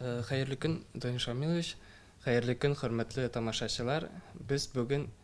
Хәерле көн, Данил Шамилович. Хәерле көн, хөрмәтле тамашачылар. Без бүген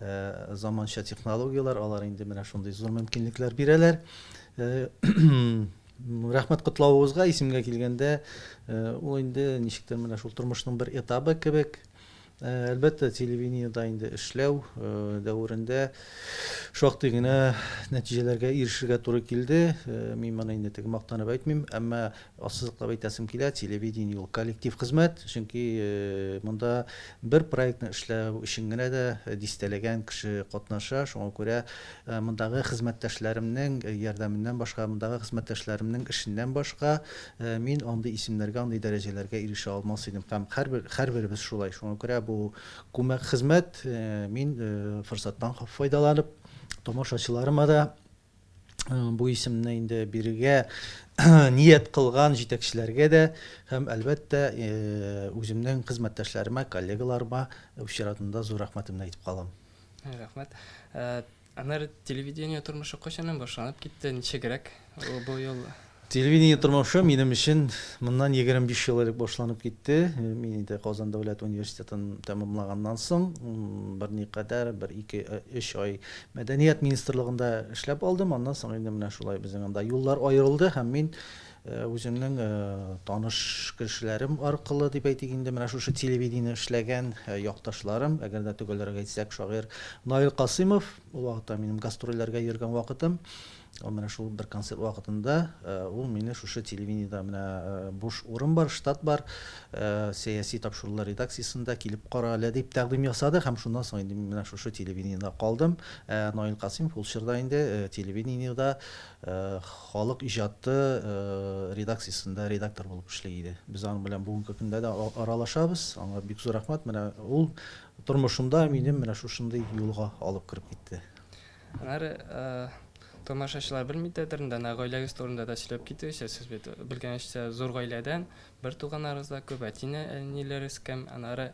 Заманча технологияләр, алар инде менә шундый зур мөмкинлекләр бирәләр. Рәхмәт котлавыгызга, исемгә килгәндә, ул инде ничектер менә шул тормышның бер этабы кебек. Әлбәттә, телевидениедә инде эшләү дәверендә шактый гына нәтиҗәләргә ирешергә туры килде. Мин моны инде теге мактанып әйтмим, әмма Ассызыклап әйтәсем килә, телевидение ул коллектив хезмәт, чөнки монда бер проектны эшләү өчен генә дә дистәләгән кеше катнаша, шуңа күрә мондагы хезмәттәшләремнең ярдәменнән башка, мондагы хезмәттәшләремнең эшеннән башка мин андый исемнәргә, андый дәрәҗәләргә ирешә алмас идем һәм һәрбер, һәрберебез шулай, шуңа күрә бу күмәк хезмәт, мин форсаттан файдаланып, тамашачыларыма да, бу исемне инде бирергә ният кылган җитәкчеләргә дә һәм, әлбәттә, үземнең хезмәттәшләремә, коллегаларыма үз чиратында зур рәхмәтемне әйтеп калам. Рәхмәт. Аннары телевидение тормышы кайчаннан башланып китте, ничегрәк бу юл? Телевидение тормышы минем өчен моннан егерме биш ел элек башланып китте. Мин инде Казан дәүләт университетын тәмамлаганнан соң, берникадәр, бер ике, өч ай Мәдәният министрлыгында эшләп алдым. Аннан соң инде менә шулай безнең анда юллар аерылды һәм мин үземнең таныш кешеләрем аркылы дип әйтик инде, менә шушы телевидение эшләгән якташларым, әгәр дә төгәлрәк әйтсәк, шагыйрь Наил Касыймов, ул вакытта минем гастрольләргә йөргән вакытым, Ул менә шул бер концерт вакытында ул мине шушы телевидениедә менә буш урын бар, штат бар, сәяси тапшырулар редакциясендә килеп кара әле дип тәкъдим ясады һәм шуннан соң инде мин менә шушы телевидениедә калдым. Ә Наил Касыймов ул чорда инде телевидениедә Халык иҗаты редакциясендә редактор булып эшли иде. Без аның белән бүгенге көндә дә аралашабыз. Аңа бик зур рәхмәт. Менә ул тормышымда минем менә шушындый юлга алып кереп китте. Аннары тамашачылар белми дә дөрен дә, гаиләгез турында да сөйләп китегезче, сез бит белгәнчә зур гаиләдән, бер туганнарыгыз да күп, әтине, әниләрегез кем, аннары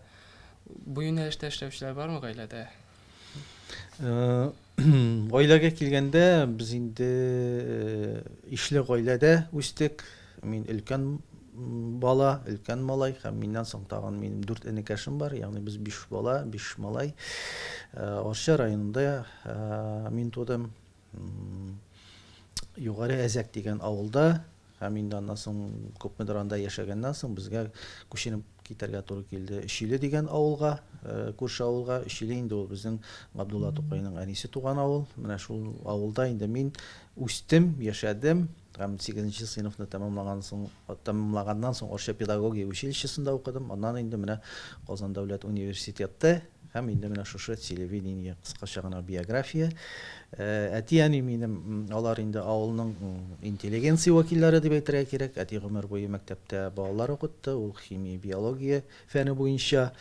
бу юнәлештә эшләүчеләр бармы гаиләдә? Гаиләгә килгәндә, без инде ишле гаиләдә үстек. Мин өлкән бала, өлкән малай һәм миннән соң тагын минем дүрт энекәшем бар, ягъни без биш бала, биш малай. Арча районында мин тудым. Югары Әзәк дигән авылда һәм инде аннан соң күпмедер анда яшәгәннән соң безгә күченеп китәргә туры килде Өчиле дигән авылга, күрше авылга. Өчиле инде ул безнең Габдулла Тукайның әнисе туган авыл. Менә шул авылда инде мин үстем, яшәдем. Һәм сигезенче сыйныфны тәмамлаган соң, тәмамлаганнан соң Арча педагогия училищесында укыдым. Аннан инде менә Казан дәүләт университеты һәм инде менә шушы телевидение, кыскача гына биография. Әти-әни минем, алар инде авылның интеллигенция вәкилләре дип әйтергә кирәк. Әти гомер буе мәктәптә балалар укытты, ул химия, биология. фәне буенча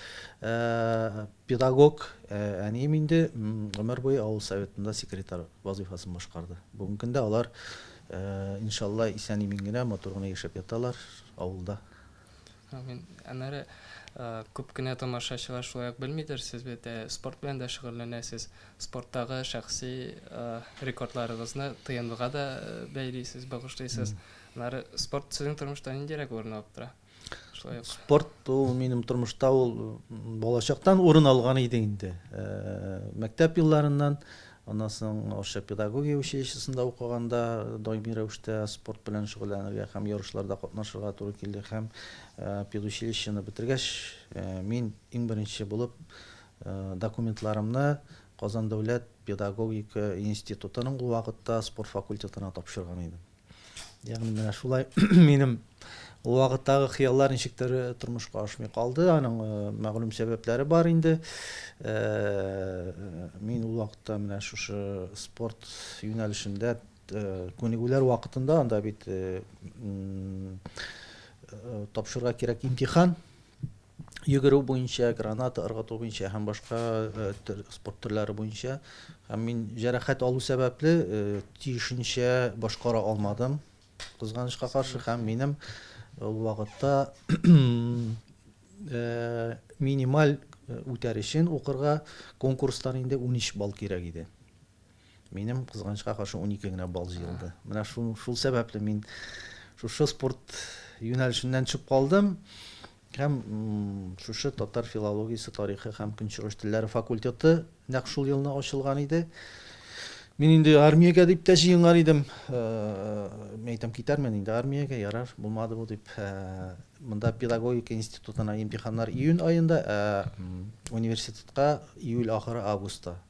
педагог әнием инде гомер буе авыл Советында секретарь вазыйфасын башкарды. Бүгенге көндә алар, иншалла, исән-имин генә, матур гына яшәп яталар авылда. Амин. Аннары күп кенә тамашачылар шулай ук белмидер, сез бит спорт белән дә шөгыльләнәсез. Спорттагы шәхси рекордларыгызны ТНВга да бәйлисез, багышлыйсыз. Аннары спорт сезнең тормышта ниндирәк урын алып тора? Шулай ук. Спорт ул минем тормышта ул балачактан урын алган иде инде. Э, мәктәп елларыннан аннан соң Орча педагогия училищесында укыганда даими рәвештә спорт белән шөгыльләнергә һәм ярышларда катнашырга туры килде һәм э, педучилищены бетергәч э, мин иң беренче булып документларымны Казан дәүләт педагогика институтының ул вакытта спорт факультетына тапшырган идем. Ягъни менә шулай минем ул вакыттагы хыяллар ничектер э, тормышка ашмый калды. Аның э, мәгълүм сәбәпләре бар инде. Э, мин ул вакытта менә шушы спорт юнәлешендә күнегүләр вакытында анда бит тапшырырга кирәк имтихан йөгерү буенча, граната ыргыту буенча һәм башка спорт төрләре буенча. Һәм мин җәрәхәт алу сәбәпле тиешенчә башкара алмадым. Кызганычка каршы һәм минем ул вакытта минималь үтәр өчен укырга конкурстан инде 13 балл кирәк иде. Минем, кызганычка каршы, унике генә балл җыелды. Менә шул, шул сәбәпле мин шушы спорт юнәлешеннән төшеп калдым һәм шушы татар филологиясе, тарихы һәм көнчыгыш телләре факультеты нәкъ шул елны ачылган иде. Мин инде армиягә дип тә җыенган идем. Мин әйтәм, китәрмен инде армиягә, ярар, булмады бу дип. Монда педагогика институтына имтиханнар июнь аенда, ә университетка июль ахыры, августта.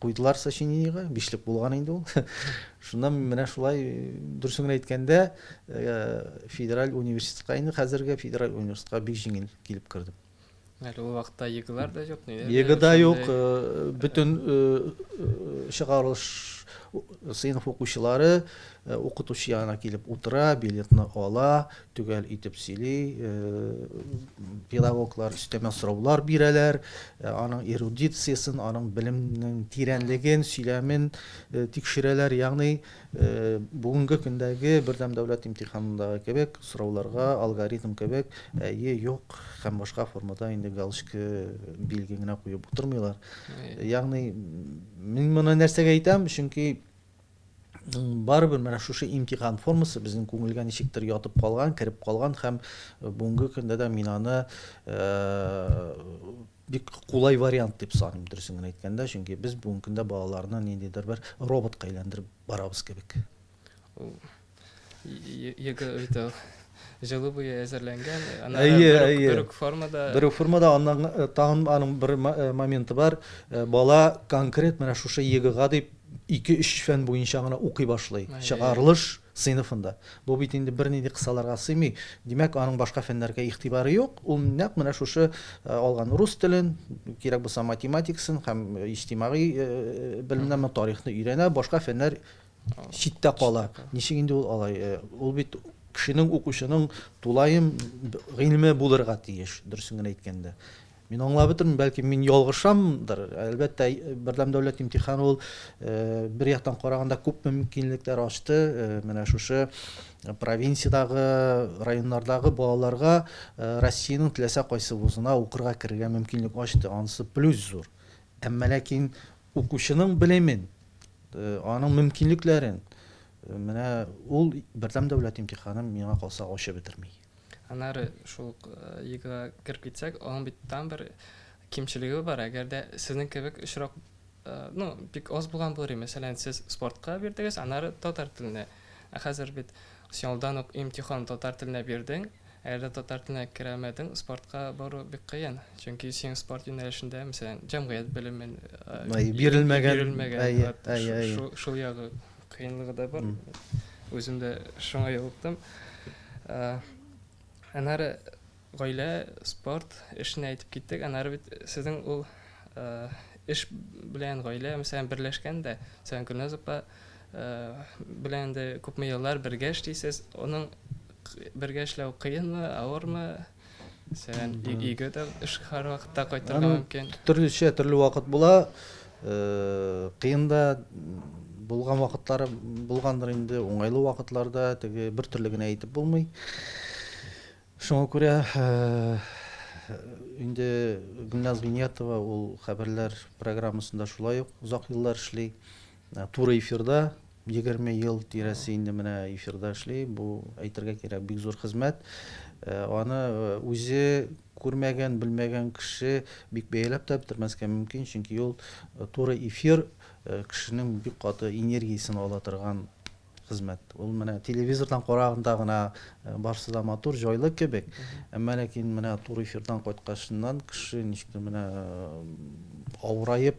Куйдылар сочинениегә, бишлек булган инде ул. Шуннан мин менә шулай, дөресен генә әйткәндә, федераль университетка, инде хәзерге федераль университетка бик җиңел килеп кердем. Әле ул вакытта ЕГЭлар да юк, ниләр дә юк. ЕГЭ да юк, бөтен чыгарылыш сыйныф укучылары укытучы янына килеп утыра, билетны ала, төгәл итеп сөйли, педагоглар өстәмә сораулар бирәләр, аның эрудициясен, аның белемнең тирәнлеген, сөйләмен тикшерәләр, ягъни бүгенге көндәге бердәм дәүләт имтиханындагы кебек сорауларга алгоритм кебек әйе, юк һәм башка формада инде галочка, билге генә куеп утырмыйлар. Ягъни мин моны нәрсәгә әйтәм, чөнки барыбер менә шушы имтихан формасы безнең күңелгә ничектер ятып калган, кереп калган һәм э, бүгенге көндә дә мин аны э, бик кулай вариант дип саныйм, дөресен генә әйткәндә, чөнки без бүгенге көндә балаларны ниндидер бер роботка әйләндереп барабыз кебек. Йөге өйдә җылы буе әзерләнгән. Әйе, әйе. Бер үк формада. Бер үк формада аннан э, тагын аның бер э, моменты бар. Э, бала конкрет менә шушы егыга дип 2-3 фән буенча гына укый башлый. Чыгарылыш сыйныфында. Бу бит инде бернинди кысаларга сыймый. Димәк, аның башка фәннәргә игътибары юк. Ул нәкъ менә шушы э, алган рус телен, кирәк булса математикасын һәм э, иҗтимагый э, белемнәрне, тарихны өйрәнә, башка фәннәр читтә кала. Ничек инде ул алай? Э, ул бит кешенең укучының тулаем гыйлеме булырга тиеш, дөресен генә әйткәндә. Мин аңлап бетермим, бәлки мин ялгышамдыр. Әлбәттә, бердәм дәүләт имтиханы ул э, бер яктан караганда күп мөмкинлекләр ачты. Э, менә шушы провинциядагы, районнардагы балаларга Россиянең теләсә кайсы вузына укырга керергә мөмкинлек ачты. Анысы плюс зур. Әмма ләкин Укучының белемен, аның мөмкинлекләрен менә ул бердәм дәүләт имтиханын миңа калса ачып бетерми. Аннары шул ук ЕГЭга кереп китсәк, аның бит тагын бер кимчелеге бар, әгәр дә сезнең кебек очрак, ну, бик аз булган булыр иде, мәсәлән, сез спортка бирдегез, аннары татар теленә. Ә хәзер бит син алдан ук имтихан татар теленә бирдең, Әле татар теленә керәмәдең, спортка бару бик кыен. Чөнки син спорт юнәлешендә, мәсәлән, җәмгыять белемен бирелмәгән, шул ягы кыенлыгы да бар. Үзем дә шуңа юлыктым. Аннары гаилә, спорт эшенә әйтеп киттек. Аннары бит сезнең ул эш белән гаилә, мәсәлән, берләшкән дә. Мәсәлән, Гөлназ апа белән дә күпме еллар бергә эшлисез. Аның Бергә эшләү кыенмы, авырмы? Мәсәлән, өйгә дә эш һәр вакытта кайтырга мөмкин. Төрлечә, төрле вакыт була. Э, кыен да булган вакытлары булгандыр инде, уңайлы вакытларда теге бер төрле генә әйтеп булмый. Шуңа күрә э, инде Гүлназ Винятова ул хәбәрләр программасында шулай ук озак еллар эшли. Туры эфирда, егерме ел тирәсе инде менә эфирда эшли, бу, әйтергә кирәк, бик зур хезмәт. Аны үзе күрмәгән, белмәгән кеше бик бәяләп тә бетермәскә мөмкин, чөнки ул туры эфир кешенең бик каты энергиясен ала торган хезмәт. Ул менә телевизордан караганда гына барсы да матур, җайлы кебек, әмма ләкин менә туры эфирдан кайткачыннан кеше ничектер менә авыраеп,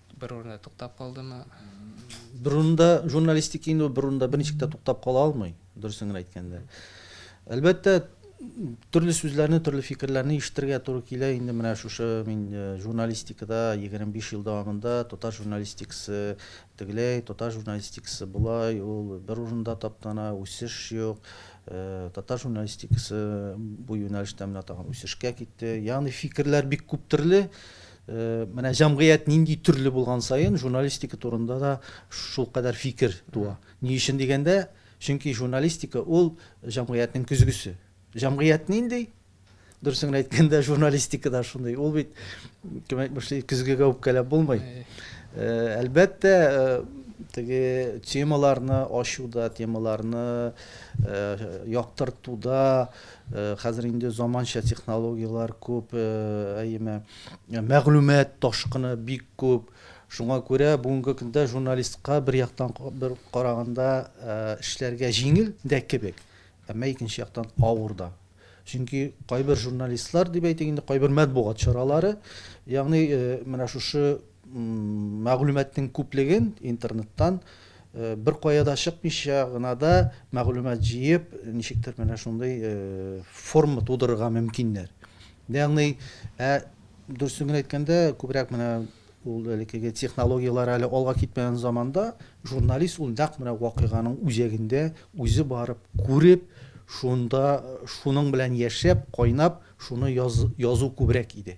Бер урында туктап калдымы? Бер урында журналистика инде ул бер урында берничек тә туктап кала алмый, дөресен генә әйткәндә. Әлбәттә, төрле сүзләрне, төрле фикерләрне ишетергә туры килә инде менә шушы мин э, журналистикада 25 ел дәвамында татар журналистикасы тегеләй, татар журналистикасы болай, ул бер урында таптана, үсеш юк. Э, татар журналистикасы бу юнәлештә менә тагын үсешкә китте. Ягъни фикерләр бик күп төрле. Менә җәмгыять нинди төрле булган саен, журналистика турында да шулкадәр фикер туа. Ни өчен дигәндә, чөнки журналистика ул җәмгыятьнең көзгесе. Җәмгыять нинди? Дөресен генә әйткәндә, журналистика да шундый. Ул бит, кем әйтмешли, көзгегә үпкәләп булмый. Әлбәттә, теге темаларны ачуда, темаларны яктыртуда, Хәзер инде заманча технологияләр күп, әйеме, мәгълүмат ташкыны бик күп. Шуңа күрә бүгенге көндә журналистка бер яктан бер караганда эшләргә җиңел дә кебек, әмма икенче яктан авыр да. Чөнки кайбер журналистлар дип әйтик инде, кайбер матбугат чаралары, ягъни менә шушы мәгълүматның күплеген интернеттан Беркая да чыкмыйча гына да мәгълүмат җыеп, ничектер менә шундый форма тудырырга мөмкиннәр. Ягъни, ә дөресен генә әйткәндә, күбрәк менә ул элеккеге технологияләр әле алга китмәгән заманда журналист ул нәкъ менә вакыйганың үзәгендә үзе барып, күреп, шунда шуның белән яшәп, кайнап, шуны язу күбрәк иде.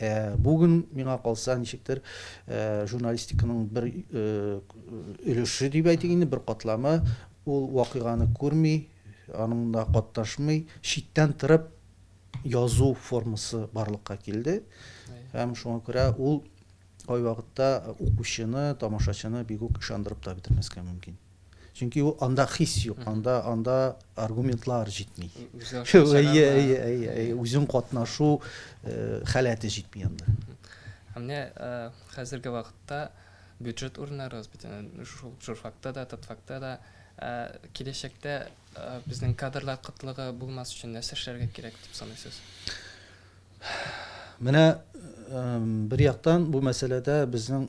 Ә бүген, миңа калса, ничектер, журналистиканың бер өлеше дип әйтик инде, бер катламы, ул вакыйганы күрми, аныңда катнашмый, читтән торып язу формасы барлыкка килде. Һәм шуңа күрә ул кайвакытта укучыны, тамашачыны бигүк ышандырып та бетермәскә мөмкин. Чөнки ул анда хис юк, анда анда аргументлар җитми. Әйе, әйе, әйе, үзең катнашу халәте җитми анда. Ә менә хәзерге вакытта бюджет урыннары бит шул журфакта да, татфакта да киләчәктә безнең кадрлар кытлыгы булмас өчен нәрсә эшләргә кирәк дип саныйсыз? Менә бер яктан бу мәсьәләдә безнең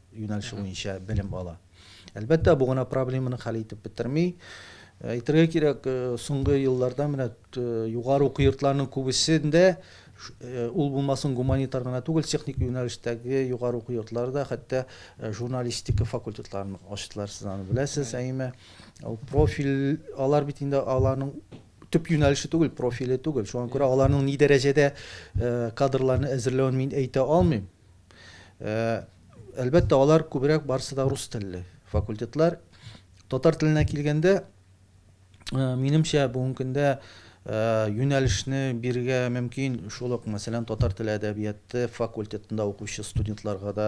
юнәлеше буенча белем ала. Әлбәттә, бу гына проблеманы хәл итеп бетерми. Әйтергә кирәк, соңгы елларда менә югары уку йортларының күбесендә ул булмасын гуманитар гына түгел, техник юнәлештәге югары уку йортлары да хәтта журналистика факультетларын ачтылар, сез аны беләсез, әйеме? Ул профиль, алар бит инде аларның төп юнәлеше түгел, профиле түгел. Шуңа күрә аларның ни дәрәҗәдә кадрларны әзерләвен мин әйтә алмыйм. Әлбәттә, алар күбрәк барысы да рус телле факультетлар. Татар теленә килгәндә, минемчә, бүгенге көндә юнәлешне бирергә мөмкин шул ук, мәсәлән, татар теле әдәбияты факультетында укучы студентларга да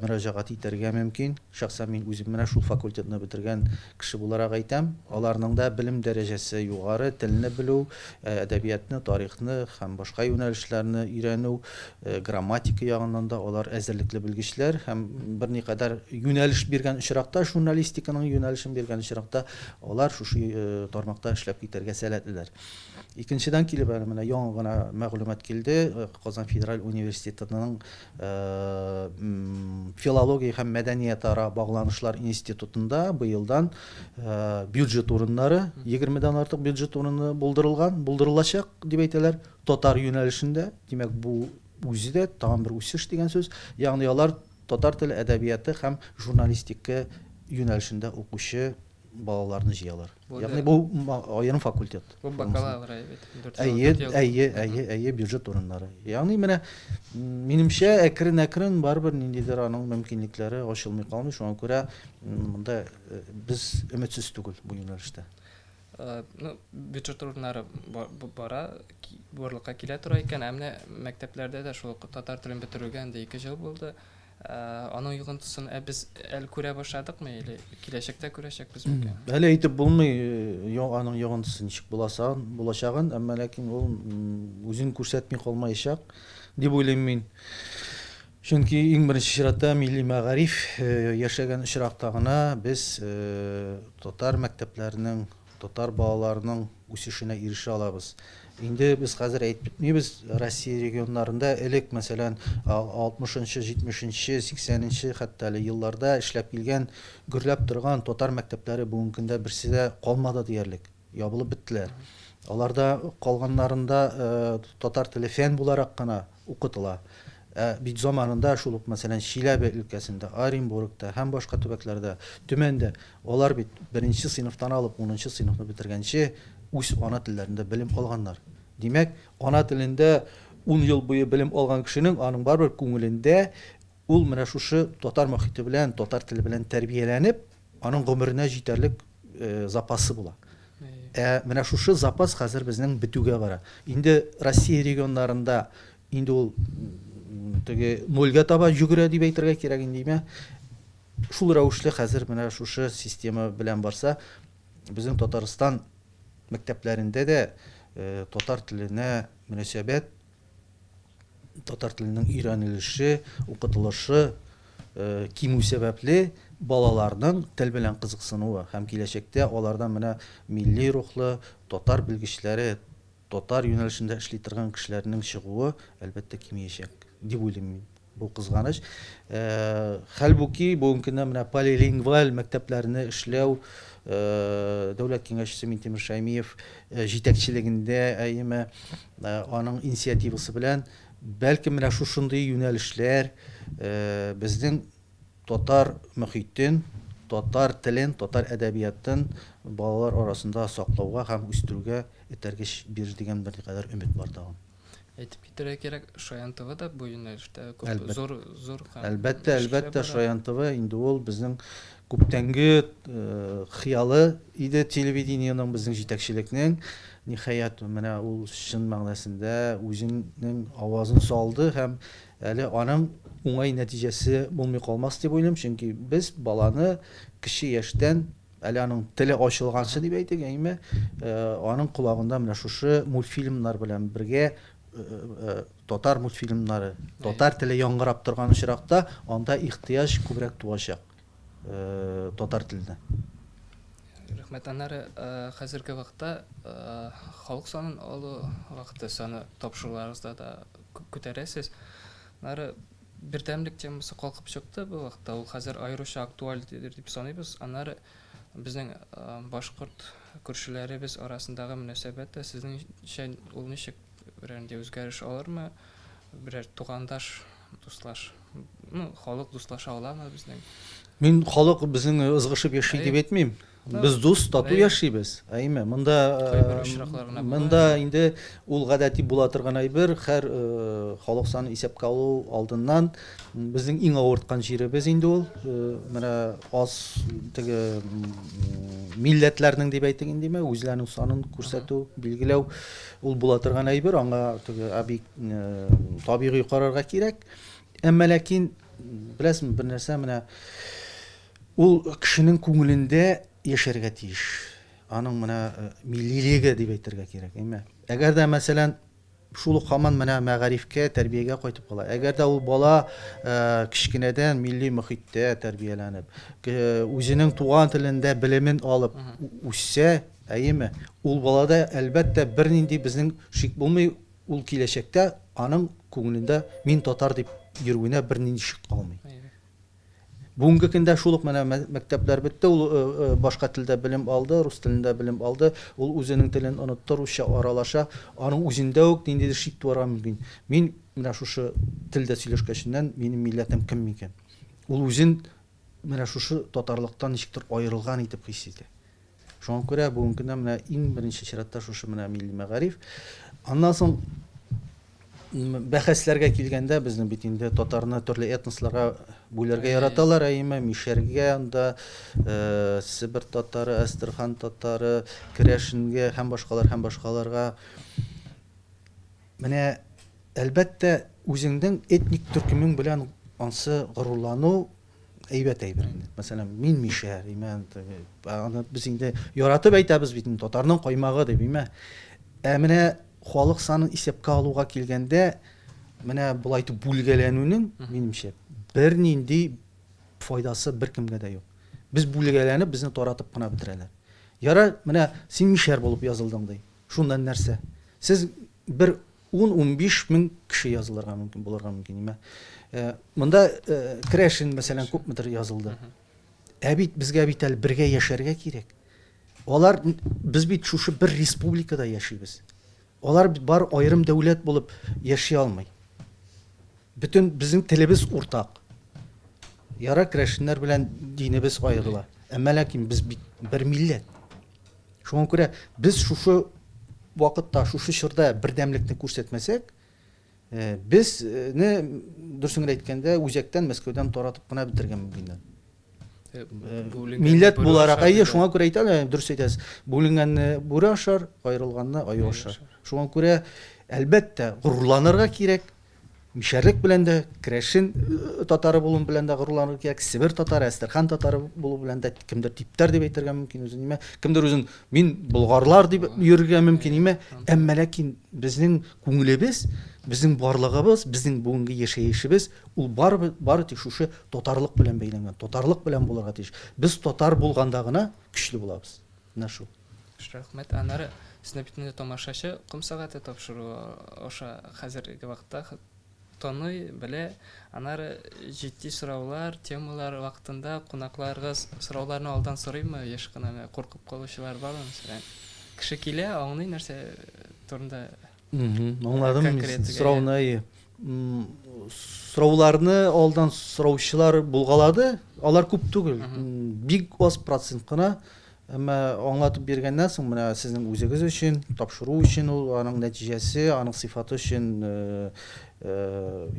мөрәҗәгать итәргә мөмкин. Шәхсән мин үзем менә шул факультетны бетергән кеше буларак әйтәм. Аларның да белем дәрәҗәсе югары, телне белү, әдәбиятны, тарихны һәм башка юнәлешләрне өйрәнү Грамматика ягыннан да алар әзерлекле белгечләр һәм берникадәр юнәлеш биргән очракта, журналистиканың юнәлешен биргән очракта, алар шушы тармакта эшләп китәргә сәләтлеләр. Икенчедән килеп, әле менә яңа гына мәгълүмат килде, Казан федераль университетының филология һәм мәдәниятара багланышлар институтында быелдан бюджет урыннары, егермедән артык бюджет урыны булдырылган, булдырылачак дип әйтәләр. Татар юнәлешендә, димәк, бу үзе дә тагын бер үсеш дигән сүз. Ягъни алар татар теле әдәбияты һәм журналистика юнәлешендә укучы балаларны җыялар. Ягъни бу аерым факультет. Бу бакалавр, әйбәт. Әйе, әйе, әйе, әйе, бюджет урыннары. Ягъни менә, минемчә, әкрен-әкрен барыбер ниндидер аның мөмкинлекләре ачылмый калмый, шуңа күрә монда без өметсез түгел бу юнәлештә. ну, бюджет урыннары бара, барлыкка килә тора икән, ә менә мәктәпләрдә дә шул татар телен бетерүгә инде 2 ел булды. Аның йогынтысын ә без әле күрә башладыкмы или киләчәктә күрәчәкбез микән? Әле әйтеп булмый, аның йогынтысы ничек буласын, булачагын, әмма ләкин ул үзен күрсәтми калмаячак дип уйлыйм мин. Чөнки, иң беренче чиратта, милли мәгариф яшәгән очракта гына без татар мәктәпләренең, татар балаларының үсешенә ирешә алабыз. Инде без хәзер әйтеп бетмибез, Россия регионнарында элек, мәсәлән, алтмышынчы, җитмешенче, сиксәненче хәтта әле елларда эшләп килгән, гөрләп торган татар мәктәпләре бүгенге көндә берсе дә калмады диярлек, ябылып беттеләр. Аларда калганнарында татар теле фән буларак кына, укытыла. Ә бит заманында шул ук, мәсәлән, Чиләбе өлкәсендә, Оренбургта һәм башка төбәкләрдә, Төмәндә алар бит беренче сыйныфтан алып унынчы сыйныфны бетергәнче үз ана телләрендә белем алганнар. Димәк, ана телендә ун ел буе белем алган кешенең аның барыбер күңелендә Ул менә шушы татар мохите белән, татар теле белән тәрбияләнеп, аның гомеренә җитәрлек запасы була. Ә менә шушы запас хәзер безнең бетүгә бара. Инде Россия регионнарында инде ул теге нольгә таба җөгерә дип әйтергә кирәк индеме? Шул рәвешле хәзер менә шушы система белән барса, безнең Татарстан мәктәпләрендә дә татар теленә мөнәсәбәт Татар теленең өйрәнелеше, укытылышы кимү сәбәпле, балаларның тел белән кызыксынуы һәм киләчәктә алардан менә милли рухлы татар белгечләре, татар юнәлешендә эшли торган кешеләрнең чыгуы, әлбәттә, кимиячәк, дип уйлыйм мин. Бу кызганыч. Хәлбуки, бүгенге көндә менә полилингваль мәктәпләрне эшләү Дәүләт Киңәшчесе Минтимер Шәймиев җитәкчелегендә, әйеме, аның инициативасы белән, бәлкем, менә шушындый юнәлешләр безнең татар мөхитен, татар телен, татар әдәбиятын балалар арасында саклауга һәм үстерүгә этәргеч бирер дигән берникадәр өмет бар тагын. Әйтеп китерә кирәк, Шаян ТВ да бу юнәлештә күп Әлбәт. зур зур һәм Әлбәттә, эшләр әлбәттә, бара. Шаян ТВ инде ул безнең күптәнге э, хыялы иде телевидениенең, безнең җитәкчелекнең. Ниһаять, менә ул чын мәгънәсендә үзенең авазын салды һәм әле аның уңай нәтиҗәсе булмый калмас дип уйлыйм, чөнки без баланы кече яшьтән Әле аның теле ачылганчы дип әйтик, әйме, аның колагында менә шушы мультфильмнар белән бергә татар мультфильмнары, татар теле яңгырап торган очракта, анда ихтыяҗ күбрәк туачак татар теленә. Рәхмәт. Аннары хәзерге вакытта халык санын алу вакыты, саны тапшыруларыгызда да күп күтәрәсез. Аннары Бердәмлек темасы калкып чыкты бу вакытта. Ул хәзер аеруча актуаль дип саныйбыз. Аннары безнең башкорт күршеләребез арасындагы мөнәсәбәт тә сезнеңчә ул ничек берәр нинди үзгәреш алырмы? Берәр тугандаш, дуслаш, ну, халык дуслаша аламы безнең? Мин халык безнең ызгышып яши дип әйтмим. Без дус, тату яшибез. Әйме, монда монда инде ул гадәти була торган әйбер, хәр халык саны исәпкә алу алдыннан безнең иң авырткан җиребез инде ул. Менә аз теге милләтләрнең дип әйтик инде, үзләренең санын күрсәтү, билгеләү ул була торган әйбер, аңа теге абик табигый карарга кирәк. Әмма ләкин беләсең, бернәрсә менә Ул кешенең күңелендә яшәргә тиеш. Аның менә миллилеге дип әйтергә кирәк, әйме? Әгәр дә, мәсәлән, шул ук һаман менә мәгарифкә, тәрбиягә кайтып кала. Әгәр дә ул бала кечкенәдән милли мохиттә тәрбияләнеп, үзенең туган телендә белемен алып үссә, әйеме, ул балада, әлбәттә, бернинди безнең шик булмый, ул киләчәктә аның күңелендә мин татар дип йөрүенә бернинди шик калмый. Бүгенге көндә шул ук менә мәктәпләр бетте, ул башка телдә белем алды, рус телендә белем алды, ул үзенең телен онытты, русча аралаша, аның үзендә үк ниндидер шик туарга мөмкин, мин менә шушы телдә сөйләшкәченнән, минем милләтем кем микән? Ул үзен менә шушы татарлыктан ничектер аерылган итеп хис итә. Шуңа күрә бүгенге көндә менә иң беренче чиратта шушы менә милли мәгариф. Аннан соң бәхәсләргә килгәндә, безнең бит инде татарны төрле этносларга бүләргә яраталар, әйеме, мишәргә, анда э, Себер татары, Әстерхан татары, Керәшенгә һәм башкалар һәм башкаларга. Менә әлбәттә, үзеңнең этник төркемең белән ансы горурлану Әйбәт әйбер инде. Мәсәлән, мин мишә, имә, аны без инде яратып әйтәбез бит, татарның каймагы дип, имә. Ә менә халык санын исәпкә алуга килгәндә, менә болай итеп бүлгәләнүнең, минемчә, бернинди файдасы беркемгә дә юк. Без бүлгәләнеп, безне таратып кына бетерәләр. Ярар, менә син мишәр булып язылдың ди. Шуннан нәрсә? Сез бер Ун-унбиш мең кеше язылырга мөмкин, булырга мөмкин име. Э, монда э, Крәшин, мәсәлән, күпмедер язылды. Ә бит безгә бит әле бергә яшәргә кирәк. Алар без бит шушы бер республикада яшибез. Алар бит бар аерым дәүләт булып яши алмый. Бөтен безнең телебез уртак. Яра крәшеннәр белән динебез аерыла. Әмма ләкин без бит бер милләт. Шуңа күрә без шушы вакытта, шушы чорда бердәмлекне күрсәтмәсәк, безне, дөресен генә әйткәндә, үзәктән, Мәскәүдән таратып кына бетерергә мөмкиннәр. Милләт буларак, әйе, шуңа күрә әйтәм дә, дөрес әйтәсез, бүленгәнне бүре ашар, аерылганны аю ашар. Шуңа күрә, әлбәттә, горурланырга кирәк. Мишәрлек белән дә, керәшен татары булуым белән дә горурланырга кирәк, Себер татары, Әстерхан татары булу белән дә, кемдер типтәр дип әйтергә мөмкин үзен, нимә, кемдер үзен мин болгарлар дип йөрергә мөмкин, нимә, әмма ләкин безнең күңелебез, безнең барлыгыбыз, безнең бүгенге яшәешебез ул барыбер, бары тик шушы татарлык белән бәйләнгән, татарлык белән булырга тиеш. Без татар булганда гына көчле булабыз. Нашу. Рәхмәт, аннары сезне бит инде тамашачы ком сәгате тапшыру аша хәзерге вакытта таный, белә. Аннары җитди сораулар, темалар вакытында кунакларыгыз сорауларны алдан сорыймы, еш кына куркып калучылар бармы, мәсәлән? Кеше килә, аңлый нәрсә турында Аңладым, сорауны. Сорауларны алдан сораучылар булгалады, алар күп түгел, бик аз процент кына. Әмма аңлатып биргәннән соң, менә сезнең үзегез өчен, тапшыру өчен ул, аның нәтиҗәсе, аның сыйфаты өчен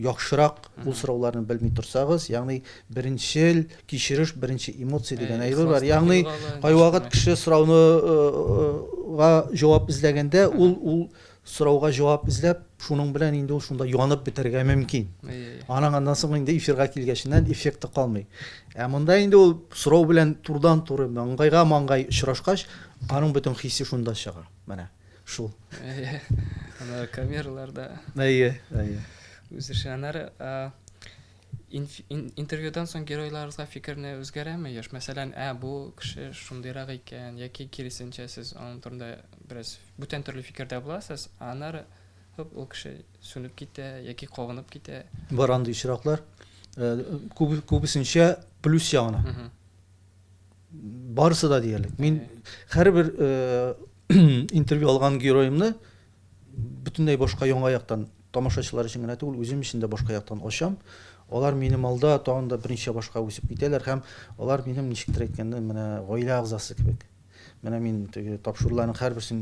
яхшырак ул сорауларны белми торсагыз, ягъни беренчел Кичереш, беренче эмоция дигән әйбер бар. Ягъни, кайвакыт кеше сорауны га җавап эзләгәндә, ул ул сорауга җавап эзләп, шуның белән инде ул шунда янып бетәргә мөмкин. Аның аннан соң инде эфирга килгәченнән эффекты калмый. Ә монда инде ул сорау белән турдан-туры маңгайга маңгай очрашкач, аның бөтен хисе шунда чыга. Менә шул. Әйе. Аны камераларда. Әйе, әйе. Үзешчәннәр, ә Интервьюдан соң геройларыгызга фикерне үзгәрәме еш? Мәсәлән, ә, бу кеше шундыйрак икән, яки киресенчә, сез аның турында бераз бүтән төрле фикердә буласыз, ә аннары, һоп, ул кеше сүнеп китә, яки кабынып китә. Бар андый очраклар. Күбесенчә плюс ягына. Барысы да диярлек. Мин һәрбер интервью алган героемны Бөтенләй башка яңа яктан, тамашачылар өчен генә түгел, үзем өчен дә башка яктан ачам. Алар минем алда тагын да берничә башка үсеп китәләр һәм алар минем, ничектер әйткәндә, менә гаилә әгъзасы кебек. Менә мин теге тапшыруларның һәрберсен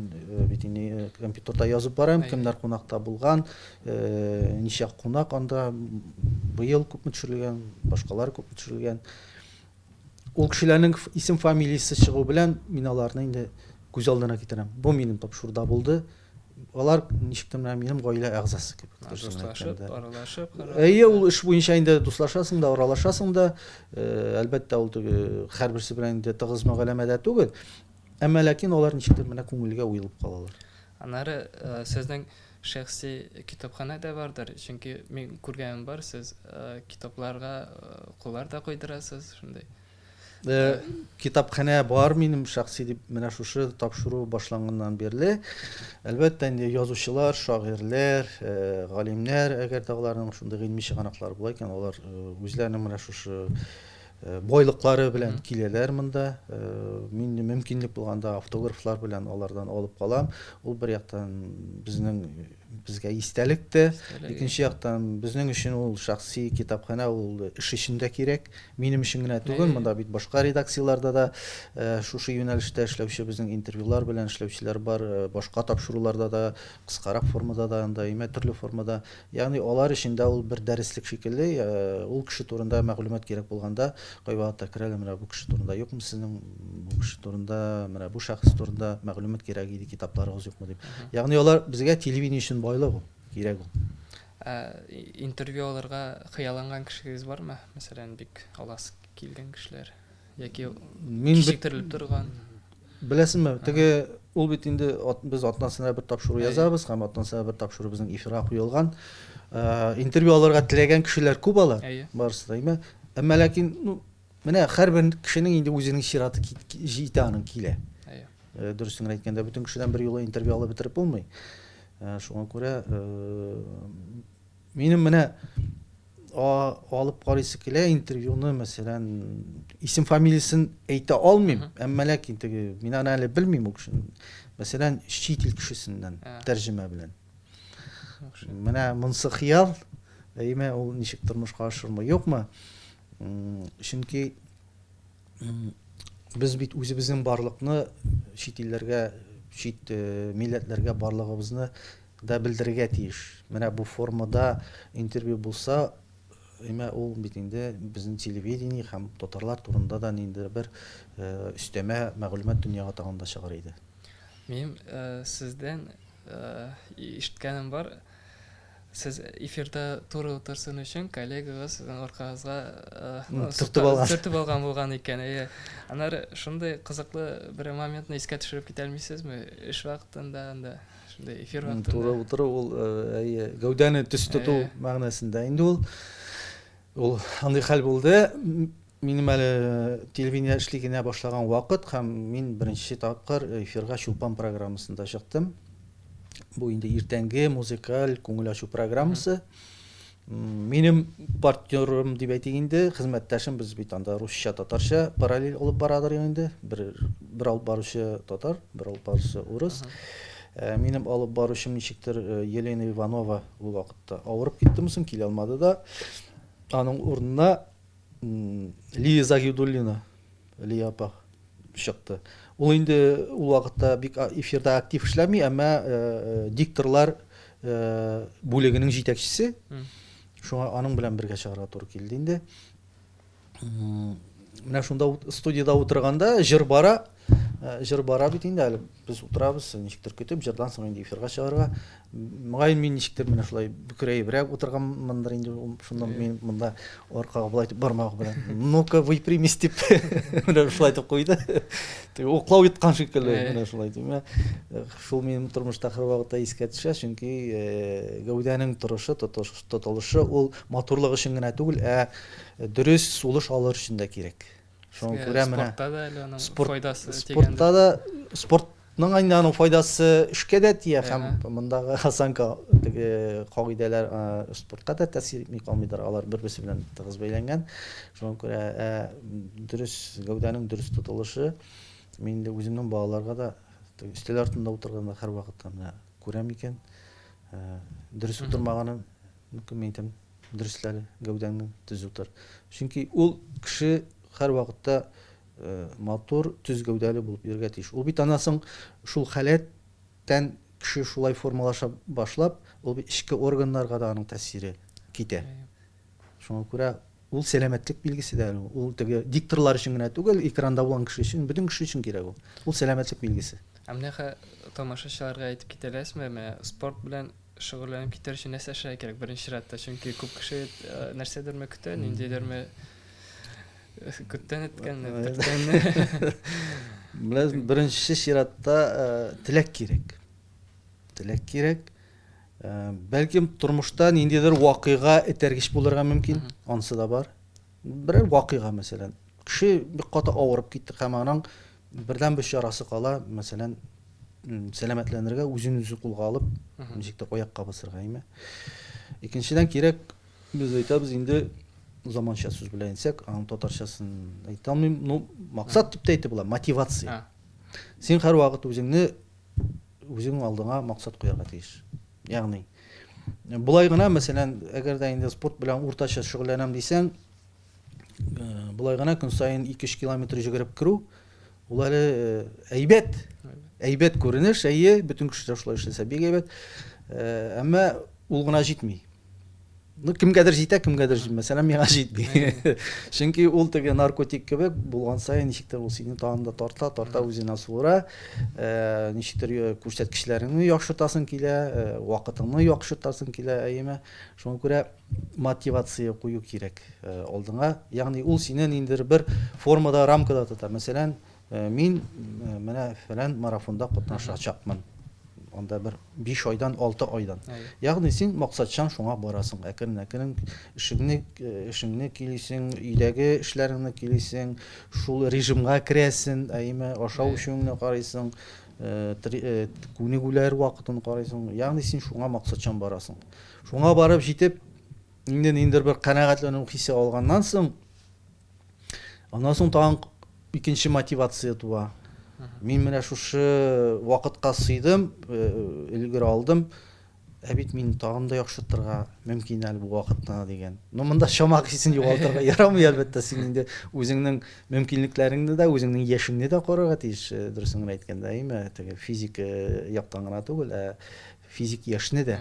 бит инде компьютерда язып барам, кемнәр кунакта булган, ничә кунак анда, быел күпме төшерелгән, башкалары күпме төшерелгән. Ул кешеләрнең исем-фамилиясе чыгу белән мин аларны инде күз алдына китерәм. Бу минем тап шурда булды. Алар ничектер менә минем гаилә әгъзасы кебек. Дуслашып, аралашып. Әйе, ул эш буенча инде дуслашасың да, аралашасың да. Әлбәттә, ул теге һәрберсе белән инде тыгыз мөгамәләдә түгел. Әмма ләкин алар ничектер менә күңелгә уелып калалар. Аннары сезнең Шәхси китапханә дә бардыр? Чөнки мин күргәнем бар, сез китапларга куллар да куйдырасыз, шундый. Китапханә бар минем шәхси дип, менә шушы тапшыру башланганнан бирле. Әлбәттә, инде язучылар, шагыйрьләр, галимнәр, әгәр дә аларның шундый гыйльми чыганаклары була икән, алар үзләренең менә шушы Э, байлыклары белән киләләр монда э, мин мөмкинлек булганда автографлар белән алардан алып калам ул бер яктан безнең безгә истәлек тә икенче яктан безнең өчен ул шәхси китапханә ул эш өчен дә кирәк минем өчен генә түгел монда бит башка редакцияләрдә дә э, шушы юнәлештә эшләүче безнең интервьюлар белән эшләүчеләр бар башка тапшыруларда да Кыскарак формада да анда имә, төрле формада. Ягъни алар өчен дә ул бер дәреслек шикелле, ул кеше турында мәгълүмат кирәк булганда, кайвакытта керәләр, менә бу кеше турында юкмы сезнең, бу кеше турында, менә бу шәхес турында мәгълүмат кирәк иде, китапларыгыз юкмы дип. Ягъни алар безгә телевидение өчен байлык ул, кирәк ул. Ә интервью алырга хыялланган кешегез бармы? Мәсәлән, бик аласы килгән кешеләр. яки кичектерелеп торган беләсеңме теге ул бит инде без атнасына бер тапшыру язабыз һәм атнасына бер тапшыру безнең эфирга куелган э, интервью алырга теләгән кешеләр күп алар барысы да әмма әмма ләкин ну менә һәрбер кешенең инде үзенең чираты җитә аның килә э, дөресен әйткәндә бөтен кешедән бер юлы интервью алып бетереп булмый э, шуңа күрә Минем менә алып карыйсы килә интервьюны, мәсәлән, исем фамилиясен әйтә алмыйм, әмма ләкин теге мин аны әле белмим ул кешене. Мәсәлән, чит ил кешесеннән тәрҗемә белән. Менә монсы хыял, әйме ул ничек тормышка ашырмы, юкмы? Чөнки без бит үзебезнең барлыкны чит илләргә, чит милләтләргә барлыгыбызны Да белдерергә тиеш. Менә бу формада интервью булса, имә ул бит инде безнең телевидение һәм татарлар турында да ниндидер бер өстәмә мәгълүмат дөньяга тагын да чыгар иде. Минем сездән ишеткәнем бар, сез эфирда туры утырсын өчен коллегагыз сезнең аркагызга төртеп алган. Төртеп алган булган икән, әйе. Аннары шундый кызыклы бер моментны искә төшереп китә алмыйсызмы? Эш вакытында анда. шундый эфир вакытында туры утыру ул әйе гәүдәне төс тоту мәгънәсендә инде ул ул андый хәл булды минем әле телевидение эшли генә башлаган вакыт һәм мин беренче тапкыр эфирга чулпан программасында чыктым бу инде иртәнге музыкаль күңел ачу программасы Минем партнерым дип әйтик инде, хезмәттәшем, без бит анда русча, татарча параллель алып барадыр инде. Бер бер алып баручы татар, бер алып баручы урыс. Э, минем алып баручым ничектер э, Елена Иванова ул вакытта авырып киттеме соң, килә алмады да. Аның урынына Лия Загидуллина Лия апа чыкты. Ул инде ул вакытта бик эфирда актив эшләми, әмма дикторлар бүлегенең җитәкчесе. Шуңа аның белән бергә чыгарга туры килде инде. Менә шунда студияда утырганда җыр бара, җыр бара бит инде әле. Без утырабыз, ничектер көтеп, җырдан соң инде эфирга чыгарга. Мөгаен мин ничектер менә шулай бөкрәебрәк утырганмындыр инде ул шуннан мин монда аркага болай дип бармагы белән ну-ка выпрямись дип менә шулай итеп куйды теге уклау йоткан шикелле менә шулай димә шул минем тормышта һәрвакытта искә төшә чөнки гәүдәнең торышы тотылышы ул матурлык өчен генә түгел ә дөрес сулыш алыр өчен дә кирәк шуны күрә менә спортта да әле аның спорт, файдасы спортта да спортның инде аның файдасы эшкә дә тия һәм мондагы осанка теге кагыйдәләр спортка да тәэсир итми калмыйдыр алар бер берсе белән тыгыз бәйләнгән шуңа күрә ә, дөрес гәүдәнең дөрес тотылышы мин инде үземнең балаларга да өстәл артында утырганда һәрвакытта менә күрәм икән ә, дөрес утырмаганын Мөмкин, мин әйтәм, дөресләре, гәүдәңне төзү тор. Чөнки ул кеше һәрвакытта матур, төз гәүдәле булып йөрергә тиеш. Ул бит аннан соң шул халәттән кеше шулай формалаша башлап, ул бит эчке органнарга да аның тәэсире китә. Шуңа күрә Ул сәламәтлек билгесе дә әле ул. Ул теге дикторлар өчен генә түгел, экранда булган кеше өчен, бөтен кеше өчен кирәк ул. Ул сәламәтлек билгесе. Ә менә хә тамашачыларга әйтеп китә аласызмы, менә спорт белән шөгыльләнеп китәр өчен нәрсә эшләргә кирәк беренче чиратта? Чөнки күп кеше нәрсәдерме көтә, ниндидерме күптән эткән, төрткәнне. Беләсең, беренче чиратта теләк кирәк. Теләк кирәк. Бәлкем тормышта ниндидер вакыйга этәргеч булырга мөмкин, ансы да бар. Берәр вакыйга, мәсәлән, кеше бик каты авырып китте һәм аның бердән бер чарасы кала, мәсәлән, сәламәтләнергә үзен үзе кулга алып, ничек тә аякка басырга име. Икенчедән кирәк, без әйтәбез инде заманча сүз белән әйтсәк, аның татарчасын әйтә алмыйм, ну, максат дип тә әйтеп була, мотивация. Син һәрвакыт үзеңне Үзең алдыңа максат куярга тиеш. Ягъни, болай гына, мәсәлән, әгәр дә инде спорт белән уртача шөгыльләнәм дисәң, болай гына көн саен 2-3 километр җөгереп керү, ул әле әйбәт. Әйбәт күренеш, әйе, бөтен кеше дә шулай эшләсә бик әйбәт. Әмма ул гына җитми. Ну, кемгәдер җитә, кемгәдер җитмә. Мәсәлән, миңа җитми. Чөнки ул теге наркотик кебек булган саен ничектер ул сине тагын да тарта, тарта үзенә суыра. Э, ничектер э, күрсәткечләреңне яхшыртасың килә, э, вакытыңны яхшыртасың килә, әйеме. Шуңа күрә мотивация кую кирәк э, алдыңа. Ягъни ул сине ниндидер бер формада, рамкада тота. Мәсәлән, Мин менә фәлән марафонда катнашачакмын. Анда бер 5 айдан, 6 айдан. Ягъни син максатчан шуңа барасың. Әкрен-әкрен эшеңне эшеңне килисең, өйдәге эшләреңне килисең, шул режимга керәсең, әйме, ашау эчүеңне карыйсың, күнегүләр вакытын карыйсың. Ягъни син шуңа максатчан барасың. Шуңа барып җитеп, инде ниндер бер канәгатьләнү хисе алганнан соң, Аннан соң тагын икенче мотивация туа. Мин менә шушы вакытка сыйдым, э, өлгер алдым. Ә бит мин тагын да яхшыртырга мөмкин әле бу вакытны дигән. Но монда чама хисен югалтырга ярамый, әлбәттә, син инде үзеңнең мөмкинлекләреңне дә, үзеңнең яшеңне дә карарга тиеш, э, дөресен генә әйткәндә, әйме, теге физик э, яктан гына түгел, ә физик яшьне дә.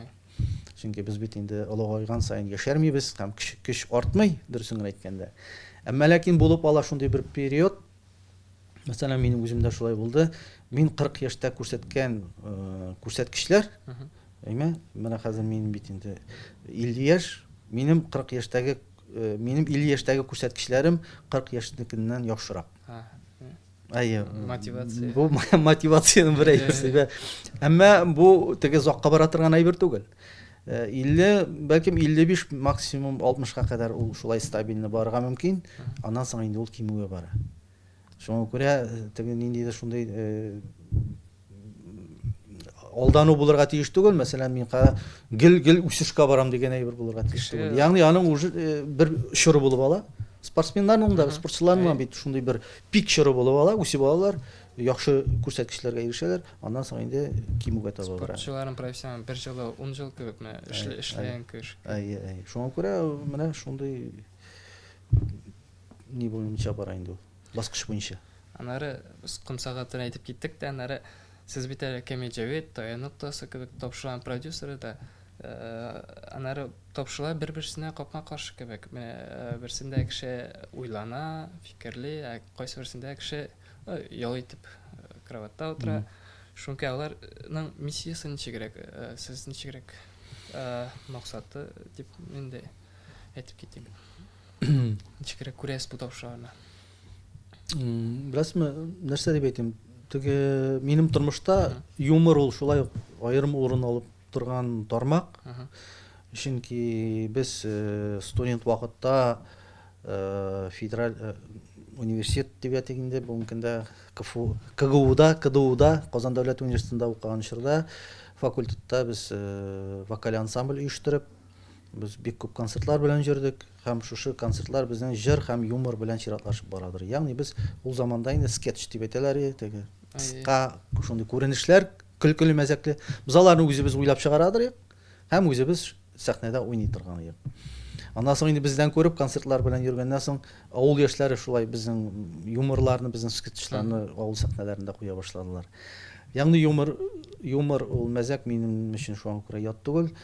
Чөнки без бит инде олыгайган саен яшәрмибез һәм көч артмый, дөресен генә әйткәндә. Әмма ләкин булып ала шундый бер период. Мәсәлән, минем үземдә шулай булды. Мин 40 яшьтә күрсәткән э, күрсәткечләр, әйме, менә хәзер мин бит инде 50 яшь, минем 40 яшьтәге э, минем 50 яшьтәге күрсәткечләрем 40 яшьнекеннән яхшырак. Әйе. Мотивация. Бу мотивациянең бер әйберсе. Әмма бу теге закка бара торган әйбер түгел. 50, э, бәлкем 55 максимум 60-ка кадәр ул шулай стабильно барырга мөмкин. Аннан соң инде ул кимүгә бара. Шуңа күрә э, теге ниндидер шундый э, алдану булырга тиеш түгел мәсәлән мин гел гел үсешкә барам дигән әйбер булырга тиеш түгел ягъни аның уже э, бер чоры булып ала спортсменнарның да спортчыларның бит шундый бер пик чоры булып ала үсеп алалар яхшы күрсәткечләргә ирешәләр аннан соң инде кимүгә таба бара спортчыларның профессиональ бер жылы ун жыл кебек менә эшләгән кеш әйе әйе шуңа күрә менә шундый не буенча бара инде ул баскыч буенча. Аннары без ком сәгатен әйтеп киттек тә, аннары сез бит әле Камил Җәвит, Таян ноктасы кебек тапшыруларның продюсеры да. Аннары тапшырулар бер-берсенә капма-каршы кебек. Менә берсендә кеше уйлана, фикерли, ә кайсыберсендә кеше ял итеп кроватьта утыра. Шуңкай аларның миссиясе ничегрәк, сез ничегрәк максаты дип инде әйтеп китик. Ничекрәк күрәсез бу тавышларны? Беләсезме, нәрсә дип әйтим? Теге минем тормышта юмор ул шулай ук аерым урын алып торган тармак. Чөнки без э, студент вакытта э, федераль э, университет дип әйтик инде, бүгенге көндә КФУ, КГУда, КДУда, Казан дәүләт университетында укыган чорда факультетта без э, вокаль ансамбль оештырып, Без бик күп концертлар белән җөрдек һәм шушы концертлар безнең җыр һәм юмор белән чиратлашып барадыр. Ягъни без ул заманда инде скетч дип әйтәләр иде, теге кыска шундый күренешләр, көлкеле-мәзәкле. Без аларны үзебез уйлап чыгарадыр идек һәм үзебез сәхнәдә уйный торган идек. Аннан соң инде бездән күреп концертлар белән йөргәннән соң авыл яшьләре шулай безнең юморларны, безнең скетчларны авыл сәхнәләрендә куя башладылар. Ягъни юмор, юмор ул мәзәк минем өчен шуңа күрә ят түгел.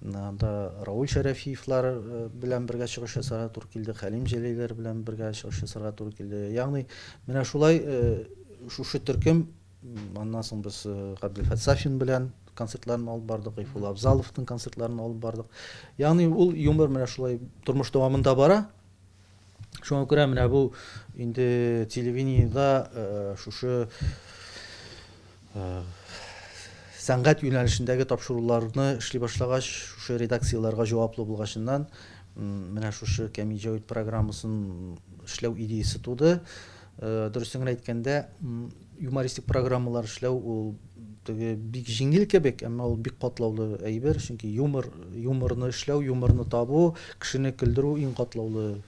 Анда Рауль Шәрәфиевлар белән бергә чыгыш ясарга туры килде, Хәлим Җәлиләр белән бергә чыгыш ясарга туры килде. Ягъни, менә шулай шушы төркем Аннан соң без Габделфәт Сафин белән концертларын алып бардык, Гайфулла Абзаловның концертларын алып бардык. Ягъни ул юмор менә шулай тормыш дәвамында бара. Шуңа күрә менә бу инде телевидениедә шушы сәнгать юнәлешендәге тапшыруларны эшли башлагач, шушы редакцияләргә җаваплы булгачыннан, менә шушы Кәми җәүит программасын эшләү идеясе туды. Дөресен генә әйткәндә, юмористик программалар эшләү ул теге бик җиңел кебек, әмма ул бик катлаулы әйбер, чөнки юмор, юморны эшләү, юморны табу, кешене көлдерү иң катлаулы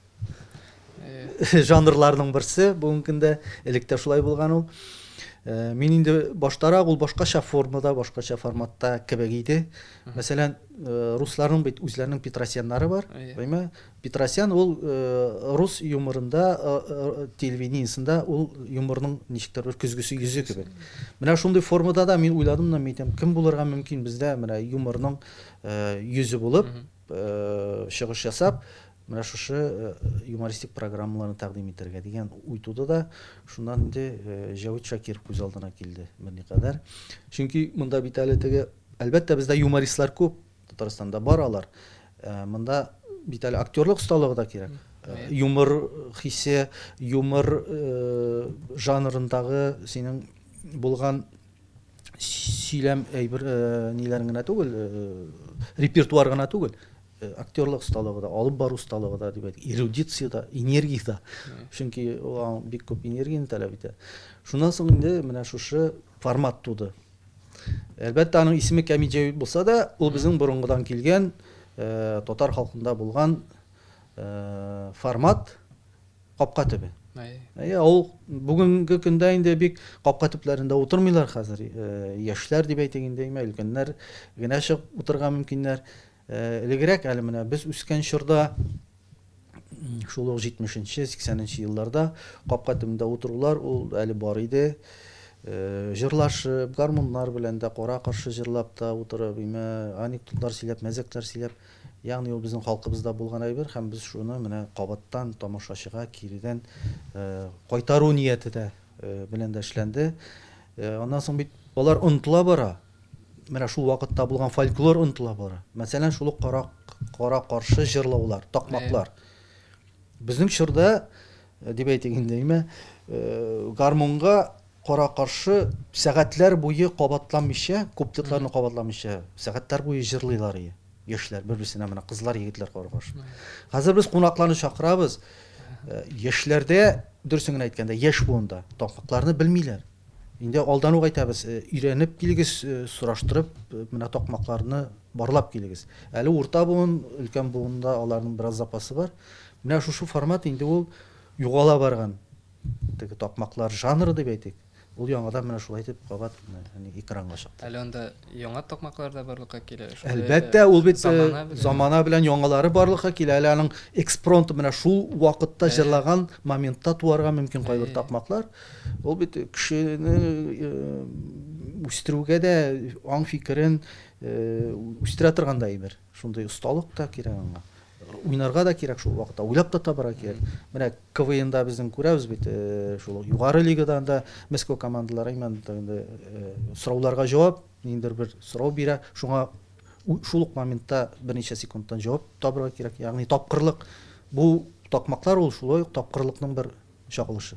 жанрларның берсе бүгенге көндә. Элек тә шулай булган ул. Э, мин инде баштарак ул башкача формада, башкача форматта кебек иде. Мәсәлән, э, русларның бит үзләренең Петросяннары бар, әйе. Петросян ул рус юморында, телевидениесында ул юморның ничектер бер көзгесе йөзе кебек. Менә шундый формада да мин уйладым да, мин әйтәм, кем булырга мөмкин бездә менә юморның йөзе булып чыгыш ясап, менә шушы юмористик программаларны тәкъдим итәргә дигән уй туды да, шуннан инде Җәвит Шакиров күз алдына килде берникадәр. Чөнки монда бит әле теге, әлбәттә, бездә юмористлар күп. Татарстанда бар алар. Монда бит әле актерлык осталыгы да кирәк. Юмор хисе, юмор жанрындагы синең булган сөйләм әйбер ниләрең генә түгел, репертуар гына түгел, актерлык осталыгы да, алып бару осталыгы да дип әйтик, эрудиция дә, энергия дә. Чөнки ул бик күп энергияне таләп итә. Шуннан соң инде менә шушы формат туды. Әлбәттә, аның исеме Кәмиҗәвит булса да, ул безнең борынгыдан килгән, татар халкында булган формат капка төбе. Әйе, ул бүгенге көндә инде бик капка төпләрендә утырмыйлар хәзер. Яшьләр дип әйтик инде, өлкәннәр генә чыгып утырырга мөмкиннәр. Элегрәк әле менә без үскән чорда, шул ук җитмешенче, сиксәненче елларда капка төбендә утырулар ул әле бар иде. Җырлашып, гармуннар белән дә, кара-каршы җырлап та утырып, имә анекдотлар сөйләп, мәзәкләр сөйләп, ягъни ул безнең халкыбызда булган әйбер һәм без шуны менә кабаттан тамашачыга киредән кайтару нияте дә белән дә эшләнде. Аннан соң бит алар онытыла бара. Менә шул вакытта булган фольклор онытыла бара. Мәсәлән, шул ук кара, кара каршы җырлаулар, такмаклар. Безнең чорда, э, дип әйтик инде, имә, э, гармунга кара каршы сәгатьләр буе кабатламыйча, күп титларны кабатламыйча, сәгатьләр буе җырлыйлар иде. Яшьләр бер-берсенә менә кызлар, егетләр кара каршы. Хәзер без кунакларны чакырабыз. Э, яшьләрдә, дөресен генә әйткәндә, яшь буында такмакларны белмиләр. Инде алдан ук әйтәбез, өйрәнеп килегез, сораштырып, менә такмакларны барлап килегез. Әле урта буын, өлкән буында аларның бераз запасы бар. Менә шушы формат инде ул югала барган теге такмаклар жанры дип әйтик. Ул яңадан менә шулай итеп кабат экранга чыкты. Әле анда яңа такмаклар да барлыкка килә. Әлбәттә, ул бит замана белән яңалары барлыкка килә. Әле аның экспронты менә шул вакытта җырлаган моментта туарга мөмкин кайбер такмаклар. Ул бит кешене үстерүгә дә аң фикерен үстерә торган да әйбер. Шундый осталык та кирәк аңа. Уйнарга да кирәк шул вакытта, уйлап та табарга кирәк. Менә КВНда безнең күрәбез бит, шул югары лигадан да Мәскәү командалары имән инде сорауларга җавап, ниндидер бер сорау бирә, шуңа шул ук моментта берничә секундтан җавап табарга кирәк. Ягъни тапкырлык бу такмаклар ул шулай ук тапкырлыкның бер чагылышы.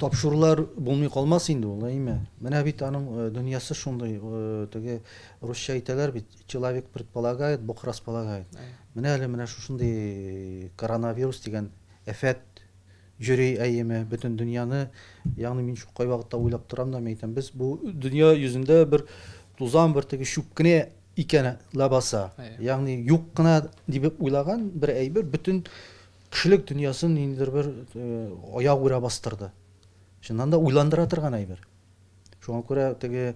Тапшырулар булмый калмас инде ул, әйме? Менә бит аның дөньясы шундый, теге русча әйтәләр бит, человек предполагает, бог располагает. Менә әле менә шушындый коронавирус дигән әфәт йөри, әйеме, бөтен дөньяны, ягъни мин шул кайвакытта уйлап торам да, мин әйтәм, без бу дөнья йөзендә бер тузан, бер теге чүп кенә икән ләбаса. Ягъни юк кына дип уйлаган бер әйбер бөтен Кешелек дөньясын ниндидер бер аяк үрә бастырды. Чыннан да уйландыра торган әйбер. Шуңа күрә теге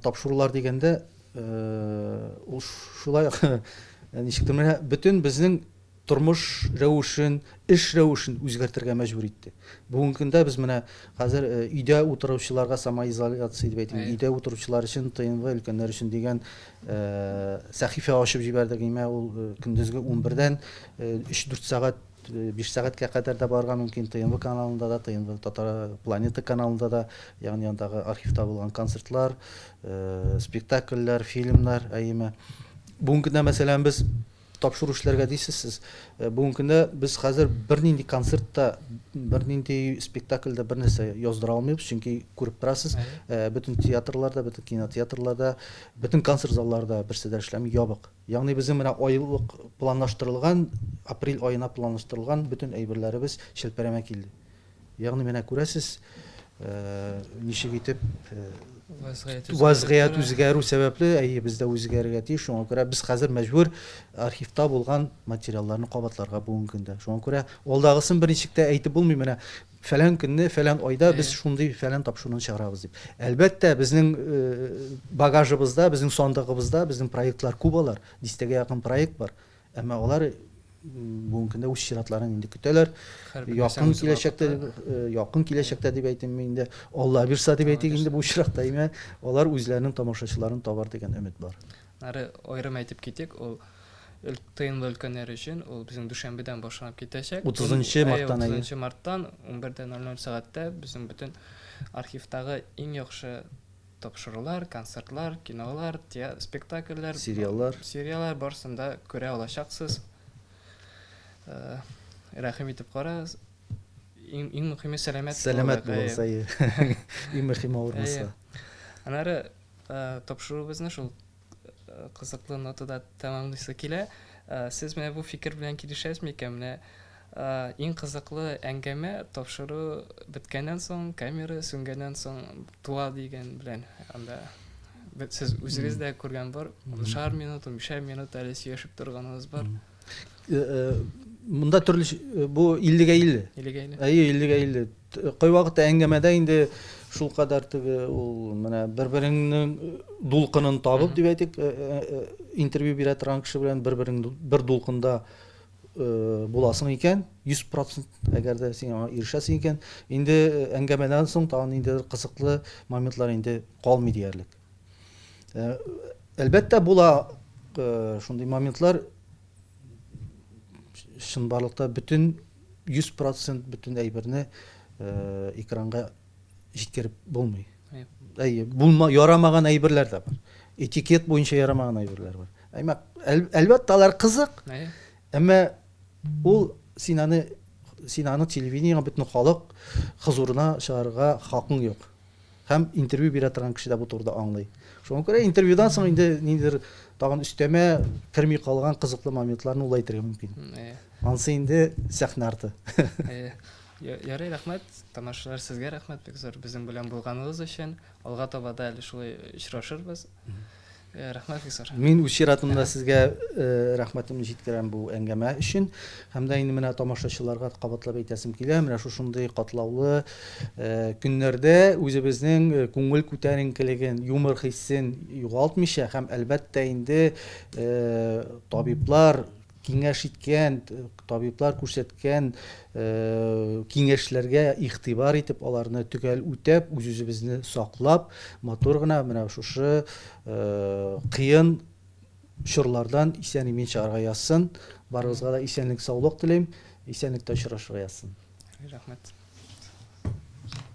тапшырулар дигәндә ул шулай ничектер менә бөтен безнең тормыш рәвешен, эш рәвешен үзгәртергә мәҗбүр итте. Бүгенге көндә без менә хәзер өйдә утыручыларга самоизоляция дип әйтик, өйдә утыручылар өчен ТНВ өлкәннәр өчен дигән сәхифә ачып җибәрдек. Имә ул көндезге унбердән Өч-дүрт сәгать, биш сәгатькә кадәр дә барырга мөмкин. ТНВ каналында да, ТНВ Татар планета каналында да, ягъни андагы архивта булган концертлар, спектакльләр, фильмнар, әйеме. Бүген көндә, мәсәлән, без тапшыру эшләргә дисез сез. Бүген көндә без хәзер бернинди концерт та, бернинди спектакль дә бернәрсә яздыра алмыйбыз, чөнки күреп торасыз, бөтен театрларда, бөтен кинотеатрларда, бөтен концерт залларда берсе дә эшләми, ябык. Ягъни безнең менә айлык планлаштырылган, апрель аена планлаштырылган бөтен әйберләребез чәлпәрәмә килде. Ягъни менә күрәсез, ничек итеп вазгыять үзгәрү сәбәпле, әйе, без дә үзгәрергә тиеш. Шуңа күрә без хәзер мәҗбүр архивта булган материалларны кабатларга бүгенге көндә. Шуңа күрә алдагысын берничек тә әйтеп булмый. Менә фәлән көнне, фәлән айда без шундый фәлән тапшыруны чыгарабыз дип. Әлбәттә, безнең багажыбызда, безнең сандыгыбызда безнең проектлар күп алар, дистәгә якын проект бар. Әмма алар бүгенге көндә үз чиратларын инде көтәләр. Якын киләчәктә, якын киләчәктә дип әйтим мин инде, Алла бирса дип әйтик инде бу очракта, алар үзләренең тамашачыларын табар дигән өмет бар. Ары аерым әйтеп китик, ул ТНВ өлкәннәре өчен ул безнең дүшәмбедән башланып китәчәк. 30 марттан. 30 марттан 11:00 сәгатьтә безнең бөтен архивтагы иң яхшы тапшырулар, концертлар, кинолар, спектакльләр, сериаллар, сериаллар барсында күрә алачаксыз. Э, рәхим итеп карагыз. Иң иң мөһиме сәламәт. Сәламәт булсай. Иң мөһиме авырмаса. Анары Тапшыруыбызны шул кызыклы нотада тәмамлыйсы килә. Сез менә бу фикер белән килешәсез микән? Менә иң кызыклы әңгәмә тапшыру беткәннән соң, камера сүнгәннән соң туа дигән белән анда сез үзегез дә күргән бар. Уншар минут, унбишәр минут әле сөйләшеп торганыгыз бар. Монда төрле бу 50-гә 50. 50-гә 50. Әйе, 50-гә 50. Кайвакыт әңгәмәдә инде шул кадәр теге ул менә бер-береңнең дулкынын табып дип әйтик, интервью бирә торган кеше белән бер-берең бер дулкында буласың икән, 100% әгәр дә син аңа ирешәсең икән, инде әңгәмәдән соң тагын инде кызыклы моментлар инде калмый диярлек. Э, әлбәттә була э, шундый моментлар чынбарлыкта бөтен 100% бөтен әйберне э, экранга җиткереп булмый әйе булма ярамаган әйберләр дә бар этикет буенча ярамаган әйберләр бар әмма әлбәттә алар кызык әмма ул син аны син аны телевидениега бөтен халык хозурына чыгарырга хакың юк Һәм интервью бирә торган кеше дә бу турыда аңлый. Шуңа күрә интервьюдан соң инде ниндидер тагын өстәмә керми калган кызыклы моментларны ул әйтергә мөмкин. Э. Ансы инде сәхнә арты. Э. Ярый, рәхмәт. Тамашачылар, сезгә рәхмәт бик зур безнең белән булганыгыз өчен. Алга таба да әле шулай очрашырбыз. Э, рәхмәт Фисар. Мин үз чиратымда сезгә э, рәхмәтемне җиткерәм бу әңгәмә өчен. Һәм дә инде менә тамашачыларга кабатлап әйтәсем килә, менә шушындый катлаулы э, көннәрдә үзебезнең күңел күтәренкелеген, юмор хиссен югалтмыйча һәм әлбәттә инде табиблар Киңәш иткән, табиблар күрсәткән киңәшләргә игътибар итеп, аларны төгәл үтәп, үз-үзебезне саклап, матур гына менә шушы кыен чорлардан исән-имин чыгарга язсын. Барыгызга да исәнлек-саулык телим. Исәнлектә очрашырга язсын. Рәхмәт.